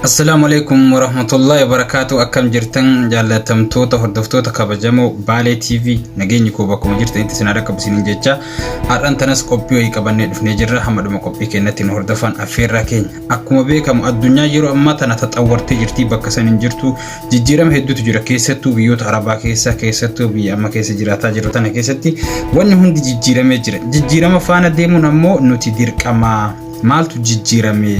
Assalaamu alaikum warahmatullahi wabarakatuh akkam jirtan jaallatamtoota hordoftoota kabajamoo Baalee TV nageenyi koo bakkuma jirtanitti isin harka qabsiinin jecha har'an tanas qophii wayii qabannee dhufnee jirra hamma dhuma qophii keenyatti nu hordofan affeerraa keenya akkuma beekamu addunyaa yeroo ammaa tana taxawwartee jirti bakka san hin jirtu Jijjiirama hedduutu jira keessattuu biyyoota arabaa keessa keessattuu biyya amma keessa jiraataa jirru tana keessatti wanni hundi jijjiiramee jira jijjiirama faana deemuun ammoo nuti dirqamaa maaltu jijjiirame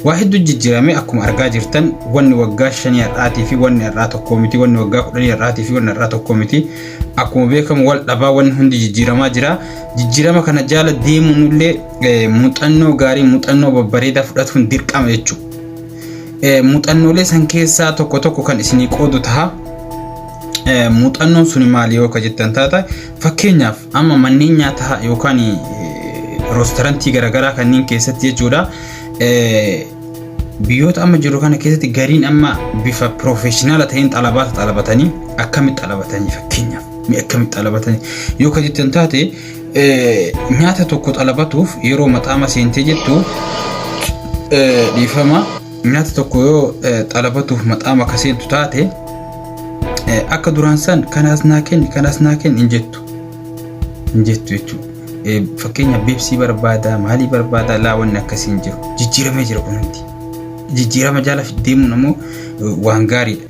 waa hedduu jijjiirame akkuma argaa jirtan wanni waggaa shanii har'aatii fi wanni har'aa tokkoo miti wanni waggaa kudhanii har'aatii fi wanni har'aa tokkoo miti akkuma beekamu wal dhabaa wanni hundi jijjiiramaa jira jijjiirama kana jaala deemuun illee muuxannoo gaarii muuxannoo babbareedaa fudhatuun dirqama jechuudha. Muuxannoolee san keessaa tokko tokko kan isinii qoodu taha. Muuxannoon suni maali yoo ka jettan taata fakkeenyaaf amma manneen nyaataa yookaan roostarantii garaagaraa kanneen keessatti jechuudha. Biyyoota amma jiru kana keessatti gariin amma bifa piroofeeshinaala ta'een xalabaata xalabatanii akkamitti xalabatanii fakkeenyaaf akkamitti xalabatanii yoo ka jettan taate nyaata tokko xalabatuuf yeroo maxaama seentee jettu dhiifama nyaata tokko yoo xalabatuuf maxaama ka seentu taate akka duraan san kanaas naa kenni kanaas naa kenni hin jettu hin jettu jechuudha. Fakkeenya beeksii barbaadaa maalii barbaadaa laa wanni akkasii hin jiru jijjiiramee jira kun hundi jijjiirama jaala deemuun ammoo waan gaariidha.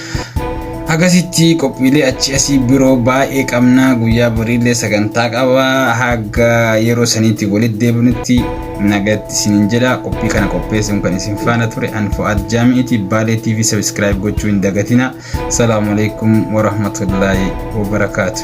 Akkasitti qophiilee achi asii biroo baay'ee qabna guyyaa boriillee sagantaa qaba haga yeroo saniitti walitti deebinutti nagatti isinin jedha qophii kana qopheessuun kan isin faana ture an fo'aad jaami'iti baalee tv sabiskiraayib gochuu hin dagatina salaamu alaikum warahmatullaahi wabarakaatu.